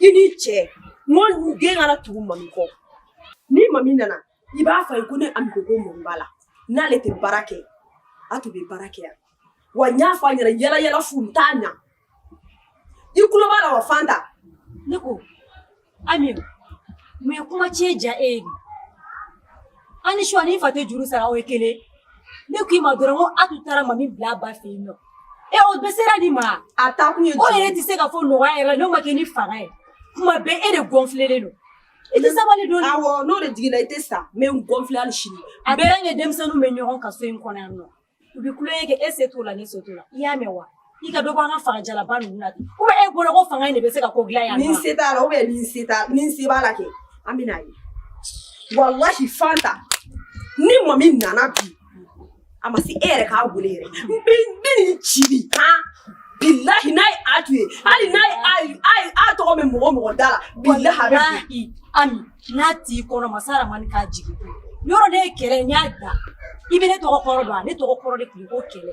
i ni cɛ n ko den kana tugu mami kɔ ni mami nana i b'a fɔ a ye ko ne ami ko ko mami b'a la n'ale tɛ baara kɛ a tun bɛ baara kɛ yan wa n y'a fɔ a ɲɛna yala yala fu n t'a ɲa i tulo b'a la wa fanta ne ko ami mun ye kuma tiɲɛ ja e ye an ni suwa ni fa tɛ juru sara o ye kelen ne k'i ma dɔrɔn ko a tun taara mami bila a ba fɛ yen nɔ e o bɛ sera di ma a taa kun ye o yɛrɛ tɛ se ka fɔ nɔgɔya yɛrɛ n'o ma kɛ ni fanga ye kuma bɛɛ e de gɔnfilelen don i tɛ sabali don awɔ n'o de jiginna i tɛ sa n bɛ n gɔnfile hali sini a bɛɛ ye denmisɛnninw bɛ ɲɔgɔn kan so in kɔnɔ yan nɔ u bɛ tulonkɛ kɛ e se t'o la ne se t'o la i y'a mɛn wa i ka dɔ bɔ an ka fagajalaba ninnu na ten ubɛ e bolo ko fanga in de bɛ se ka ko dilan yan ni n se t'a la ubɛ ni n se t'a ni n se b'a la kɛ an bɛ n'a ye walahi fanta ni mami nana bi a ma se e yɛrɛ k'a wele yɛrɛ n bɛ n bɛ nin ci de han bilahi n'a ye a to ye hali n'a ye a ye a ye a tɔgɔ bɛ mɔgɔ mɔgɔ da la bilahi a bɛ bɔ. Walahi, Ami n'a t'i kɔnɔ masa ramani k'a jigin i kɔnɔ ne ye kɛlɛ n y'a da i bɛ ne tɔgɔ kɔrɔ dɔn wa ne tɔgɔ kɔrɔ de tun ye ko kɛlɛ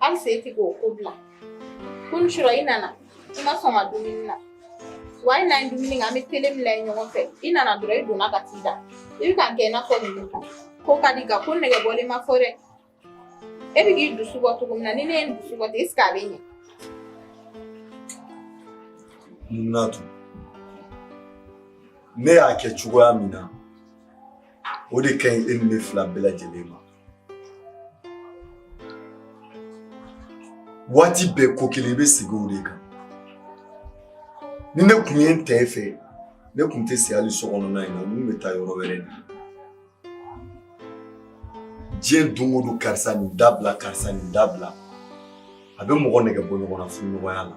Hali se tɛ k'o ko bila ko ni sɔrɔ i nana i ma sɔn ka dumuni na wa i n'an dumuni kɛ an bɛ tele bila ye ɲɔgɔn fɛ i nana dɔrɔn i donna ka t'i da i bɛ k'a kɛ i n'a fɔ ninnu kan ko ka di ka ko nɛgɛ bɔlen ma fɔ dɛ e bɛ k'i dusu bɔ cogo min na ni ne ye n dusu bɔ ten est ce que a bɛ ɲɛ. mun na tun ne y'a kɛ cogoya min na o de ka ɲi e ni ne fila bɛɛ lajɛlen ma. waati bɛɛ ko kelen i bɛ sigi o de kan ni ne tun ye n t'e fɛ ne tun tɛ si hali so kɔnɔna in na n tun bɛ taa yɔrɔ wɛrɛ de diɲɛ don o don karisa nin dabila karisa nin dabila a bɛ mɔgɔ nɛgɛ bɔ ɲɔgɔn na furuɲɔgɔnya la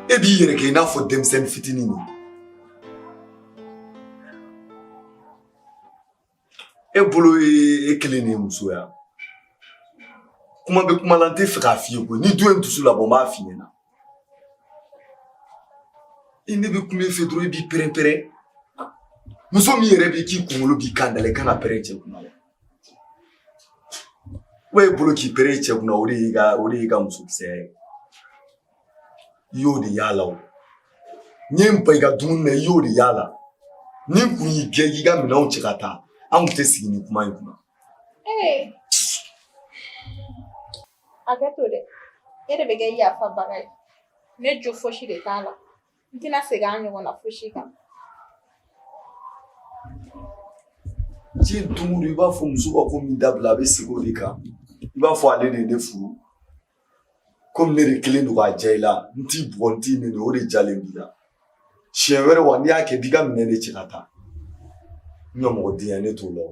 e b'i yɛrɛ kɛ i n'a fɔ denmisɛnnin fitinin de e bolo ye e kelen ni musoya kuma bɛ kuma la n t'a fɛ k'a f'i ye koyi n'i dun ye n dusu labɔ n b'a f'i ɲɛna ni ne bɛ kuma i fɛ dɔrɔn i b'i pɛrɛn-pɛrɛn muso min yɛrɛ b'i k'i kunkolo b'i kan da la i kan ka pɛrɛn cɛ kunna wa wa e bolo k'i pɛrɛn cɛ kunna o de y'i ka o de y'i ka musokisɛya ye i jo de y'a la o n ye n ban i ka dumuni na i jo de y'a la ni n tun y'i gɛn k'i ka minɛnw cɛ ka taa an tun tɛ sigi ni kuma in kunna. hakɛ to dɛ e de bɛ kɛ yafabaga ye ne jo fosi de t'a la n tɛna segin an ɲɔgɔn na fosi kan. diɲɛ don o don i b'a fɔ muso ka ko min dabila a bɛ segin o de kan i b'a fɔ ale de ye ne furu komi ne de kelen don k'a diya i la n t'i bugɔ n t'i nɛni o de jalen b'i la siɲɛ wɛrɛ wa n'i y'a kɛ b'i ka minɛn de cɛ ka taa n ka mɔgɔ denya ne t'o la o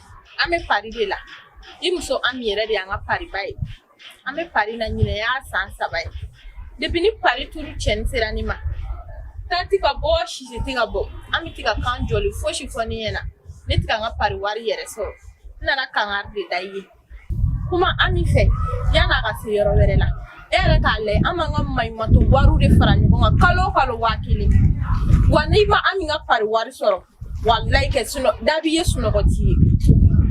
an bɛ pari de la i muso ami yɛrɛ de an ka pariba ye an bɛ pari la nin y'a san saba ye de ni pari tuuru cɛni sera ne ma ta tɛ ka bɔ sisi tɛ ka bɔ ami tɛ ka kan jɛlen fosi fɔ ne ɲɛna ne tɛ ka n ka pari wari yɛrɛ sɔrɔ n nana kankari de da i ye kuma ami fɛ yann'a ka se yɔrɔ wɛrɛ la e yɛrɛ k'a lajɛ an b'an ka maɲumatɔ wariw de fara ɲɔgɔn kan kalo kalo waa kelen wa ne ma ami ka pari wari sɔrɔ walayi kɛ sunɔ da b'i ye sunɔgɔ t'i ye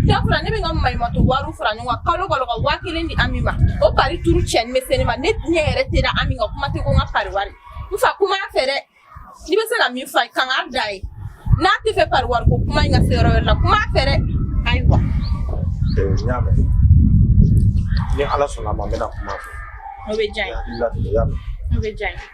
dakura ne bɛ n ka maɲumatɔ wariw fara ɲɔgɔn kan kalo kalo ka waa kelen di ami ma o pari turu cɛni bɛ se ne ma ne diɲɛ yɛrɛ tɛ da ami ka kuma tɛ ko n ka pari wari n fa kuma a fɛ dɛ n'i bɛ se ka min fɔ kankari da a ye n'a t'a fɛ pari wari ko kuma in ka se yɔrɔ wɛrɛ la kuma a fɛ dɛ ayiwa. n y'a mɛn ni ala sɔnna a ma n bɛna kuma a fɛ. o bɛ diya n ye o bɛ diya n ye.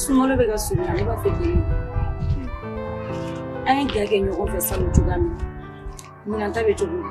Sunkalo bɛ ka surunya ne b'a fɛ k'i ye an ye ga kɛ ɲɔgɔn fɛ salon cogoya min na ɲinan ta bɛ cogo di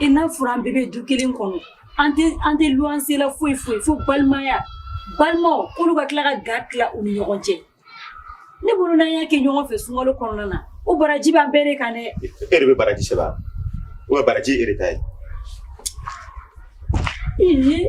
I n'a fɔra an bɛɛ bɛ du kelen kɔnɔ an tɛ an tɛ luwanse la foyi foyi fo balimaya balimaw k'olu ka tila ka ga tila u ni ɲɔgɔn cɛ ne bolo n'an y'a kɛ ɲɔgɔn fɛ sunkalo kɔnɔna na o baraji b'an bɛɛ de kan dɛ e de bɛ baraji sɛbɛn a o ye baraji e de ta ye ee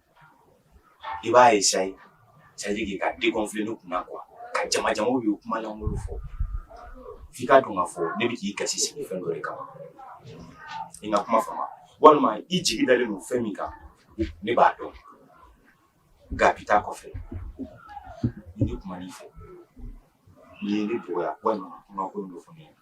i b'a ye sa ye sadi k'i ka defi ne kunna kuwa ka jamajama i bɛ kuma lankolon fɔ f'i ka dun ka fɔ ne bɛ k'i kasi sigi fɛn dɔ de kama i ka kuma fama walima i jigi dalen don fɛn min kan ne b'a dɔn nka bi taa kɔfɛ ni ne kumana i fɛ n'i ye ne dɔgɔya walima kuma ko dɔ fɔ ne ɲɛna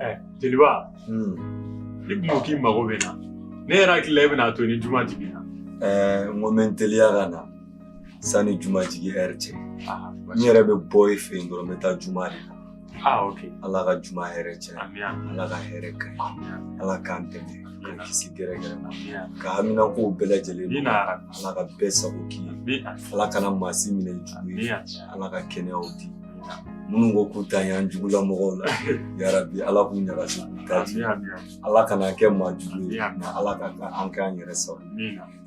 Eh, jeliba hmm. ni tun ko k'i mago bɛ n na ne yɛrɛ hakili la e bɛn'a to ni juma jiginna eh, n ko n bɛ n teliya ka na sanni juma jigin ɛri cɛ n yɛrɛ bɛ bɔ e fɛ yen dɔrɔn n bɛ taa juma de la Ah, okay. Ala ka juma hɛrɛ caya ala ka hɛrɛ k'an ye ala k'an dɛmɛ k'an kisi gɛrɛgɛrɛ ma k'an haminakow bɛɛ lajɛlen ala ka bɛɛ sago k'i ye ala kana maa si minɛ jugu ye ala ka kɛnɛyaw di minnu ko k'u ta yan jugula mɔgɔw la yarabi ala k'u ɲagasi k'u ta di ala kana kɛ maa jugu ye ala ka an k'an yɛrɛ sago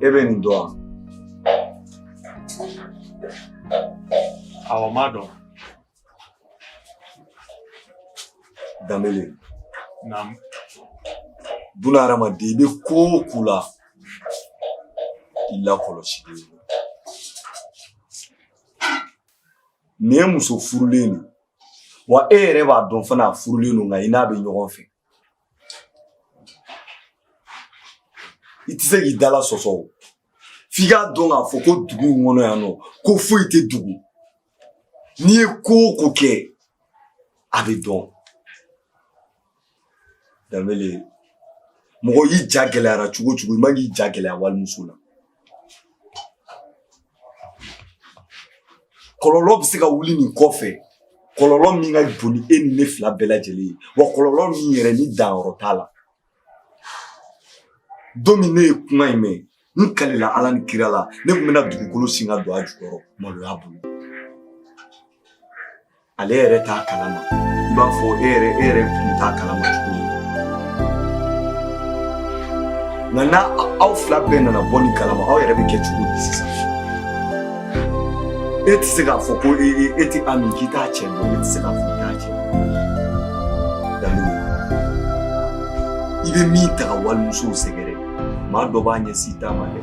E bɛ nin dɔn wa. Ayiwa Madu Danbele. Naamu. Buna hadamaden i bɛ ko o ko la i lakɔlɔsilen don. Nin ye muso furulen de wa e yɛrɛ b'a dɔn fana a furulen don nka i n'a bɛ ɲɔgɔn fɛ. i tɛ se k'i dala sɔsɔ o f'i k'a dɔn k'a fɔ ko dugu in kɔnɔ yan nɔ ko foyi tɛ dogo n'i ye ko o ko kɛ a bɛ dɔn danbele mɔgɔ i ja gɛlɛyara cogo o cogo i man k'i ja gɛlɛya walimuso la kɔlɔlɔ bɛ se ka wuli nin kɔfɛ kɔlɔlɔ min ka bon ni e ni ne fila bɛɛ lajɛlen ye wa kɔlɔlɔ min yɛrɛ ni danyɔrɔ t'a la don min ne ye kuma in mɛn n kalila ala ni kira la ne tun bɛna dugukolo sen ka don a jukɔrɔ maloya bolo ale yɛrɛ t'a kalama i b'a fɔ e yɛrɛ e yɛrɛ tun t'a kalama cogo min nka ni aw fila bɛɛ nana bɔ nin kalama aw yɛrɛ bɛ kɛ cogo di sisan e tɛ se k'a fɔ ko e e e tɛ ami k'i t'a cɛ dɔn e tɛ se k'a fɔ k'i t'a cɛ daminɛ i bɛ min taga walimusow sɛgɛrɛ maa dɔ b'a ɲɛsin i ta ma dɛ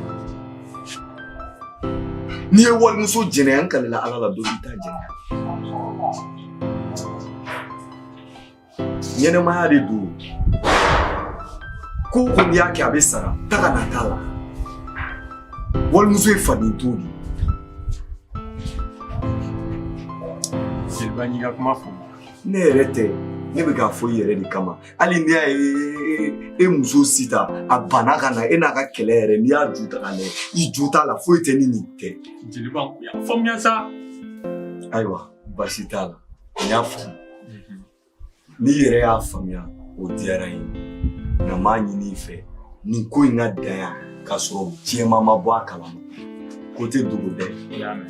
N'i ye walimuso jɛnɛya n kalila Ala la dɔ bɛn'i ta jɛnɛya ɲɛnamaya de don ko o ko n'i y'a kɛ a bɛ sara taga na t'a la walimuso ye faden to de ye Jeliba n y'i ka kuma faamu ne yɛrɛ tɛ ne bɛ k'a fɔ i yɛrɛ de kama hali n'i y'a ye e muso Sitan bana ka na e n'a ka kɛlɛ yɛrɛ n'i y'a ju ta k'a lajɛ i ju t'a la foyi tɛ ni nin tɛ jeliba ko y'a faamuya sa ayiwa baasi t'a la n y'a faamu n'i yɛrɛ y'a faamuya o diyara n ye nka n b'a ɲini i fɛ nin ko in ka dan yan k'a sɔrɔ jama ma bɔ a kalama ko tɛ dogo dɛ i y'a mɛn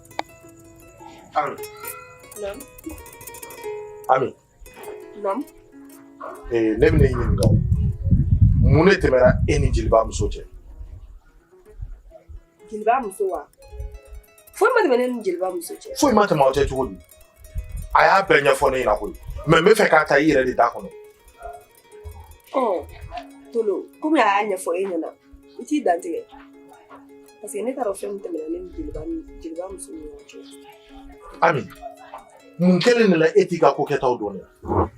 Alo. Naam. Alo. Naam. Ee, ne bɛna i ɲininka o. Mun de tɛmɛna e ni jeliba muso cɛ? Jeliba muso wa? Foyi ma tɛmɛ ne ni jeliba muso cɛ. Foyi ma tɛmɛ aw cɛ cogo di? A y'a bɛɛ ɲɛfɔ ne ɲɛna koyi. Mais n b'a fɛ k'a ta i yɛrɛ de da kɔnɔ. ɔ tolo kɔmi a y'a ɲɛfɔ e ɲɛna i t'i dantigɛ parce que ne t'a dɔn fɛn min tɛmɛna ne ni jeliba ni jeliba muso ni ɲɔgɔn cɛ ami mun kɛlen de la e t'i ka ko kɛtaw dɔn yan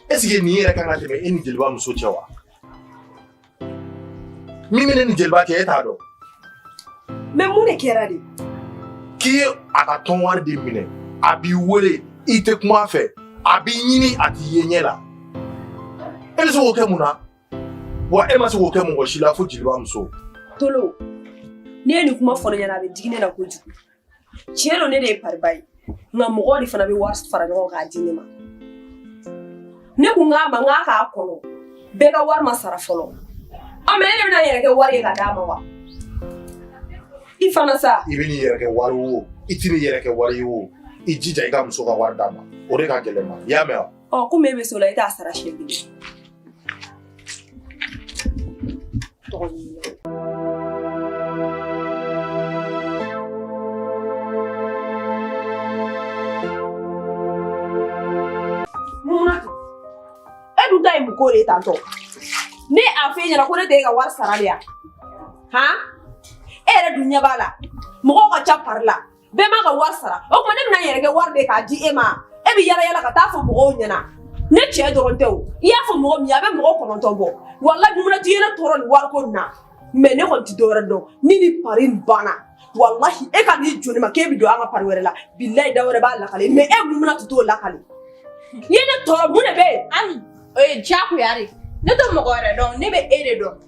est ce que nin yɛrɛ kan ka tɛmɛ e ni jeliba muso cɛ wa Min bɛ ne ni jeliba cɛ e t'a dɔn mais mun de kɛra de k'i ye a ka tɔn wari de minɛ a b'i wele i tɛ kuma a fɛ a b'i ɲini a t'i ye ɲɛ la e bɛ se k'o kɛ mun na wa e ma se k'o kɛ mɔgɔ si la fo jeliba muso tolo n'e ye nin kuma fɔ ne ɲɛna a bɛ digi ne na kojugu tiɲɛ don ne de ye pariba ye nka mɔgɔw de fana bɛ wari fara ɲɔgɔn k'a di ne ma ne ko a ma a k'a kɔnɔ bɛɛ ka wari ma sara fɔlɔ ɔ mɛ ne de bɛna n yɛrɛ kɛ wari ye ka d'a ma wa i fana sa i bɛn'i yɛrɛ kɛ wari ye o i tɛn'i yɛrɛ kɛ wari ye o i jija i ka muso ka wari d'a ma o de ka gɛlɛn n ma i y'a mɛn wa ɔ komi e bɛ s'o la e t'a sara siɲɛ kelen Tɔgɔ ɲini ko de tantɔ ne y'a f'e ɲɛna ko ne tɛ e ka wari sara de yan han e yɛrɛ dun ɲɛ b'a la mɔgɔw ka ca pari la bɛɛ ma ka wari sara o tuma ne bɛna n yɛrɛ kɛ wari ye k'a di e ma e bɛ yala yala ka t'a fɔ mɔgɔw ɲɛna ne cɛ dɔrɔn tɛ o i y'a fɔ mɔgɔ min ye a bɛ mɔgɔ kɔnɔntɔn bɔ wala dumuni tɛ yɛrɛ tɔɔrɔ nin wariko nin na mɛ ne kɔni tɛ dɔwɛrɛ dɔn ni nin pari nin banna walahi e kan'i jɔ ne ma k'e bɛ don an ka pari wɛrɛ la bilayi da wɛrɛ b'a lakale mɛ e mun bɛn'a to t'o lakale i ye ne tɔɔrɔ mun de bɛ yen ami o ye diyagoya de ye ne tɛ mɔgɔ wɛrɛ dɔn ne bɛ e de dɔn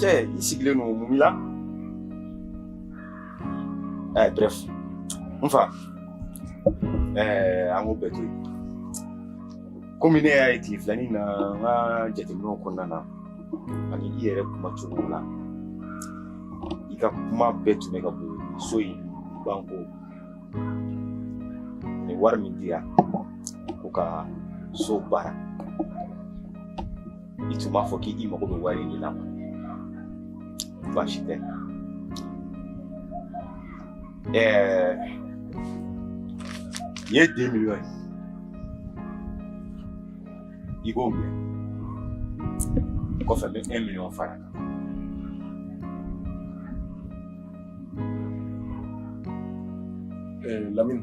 Cɛ i sigilen don mun la ɛɛ eh, bref n fa ɛɛ eh, an k'o bɛɛ to yen komi ne y'a ye tile fila nin na n ka jateminɛw kɔnɔna na ani i yɛrɛ kuma cogo la i ka kuma bɛɛ tun bɛ ka boli so in banko ni wari min dira ko ka so baara i tun b'a fɔ k'i mago bɛ wari de la baasi tɛ ɛɛ nin ye deux miliyɔn ye i b'o minɛ kɔfɛ n bɛ un miliyɔn fara a kan lamini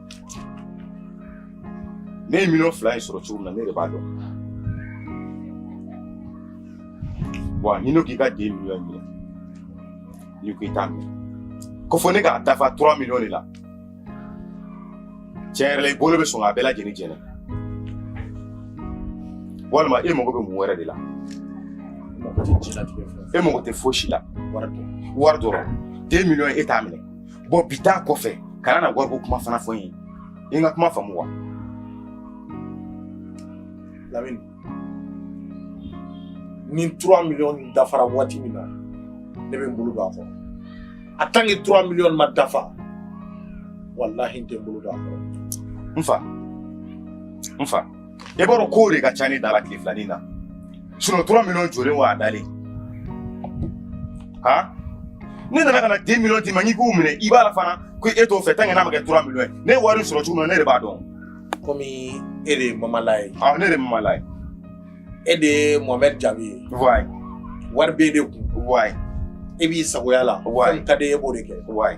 Ne ye miliyɔn fila in sɔrɔ cogo min na ne de b'a dɔn wa n'i n'o k'i ka deux miliyɔn minɛ n'i ko i t'a minɛ ko fɔ ne k'a dafa trois miliyɔn de la tiɲɛ yɛrɛ la i bolo bɛ sɔn k'a bɛɛ lajɛlen jeni walima e mago bɛ mun wɛrɛ de la e mago tɛ fosi la wari dɔrɔn deux miliyɔn e t'a minɛ bɔn bi taa kɔfɛ kana na wariko kuma fana fɔ n ye i n ka kuma faamu wa lamini ni 3 miliyɔn dafara waati min na ne bɛ n bolo don a kɔrɔ a tant que 3 miliyɔn ma dafa walahi n tɛ n bolo don a kɔrɔ n fa n fa e b'a dɔn kow de ka ca ne da la tile filanin na sinɔn trois miliyɔn jɔlen wa a dalen ha ne nana ka na deux miliyɔn d'i ma n'i k'u minɛ i banna fana ko e t'o fɛ tant que n'a ma kɛ trois miliyɔn ye ne ye wari sɔrɔ cogo min na ne de b'a dɔn komi e de ye mamala ye ah ne de ye mamala ye e de ye mohamɛd jabi ye wayi wari b'e de kun wayi e b'i sagoya la wayi ka di e b'o de kɛ wayi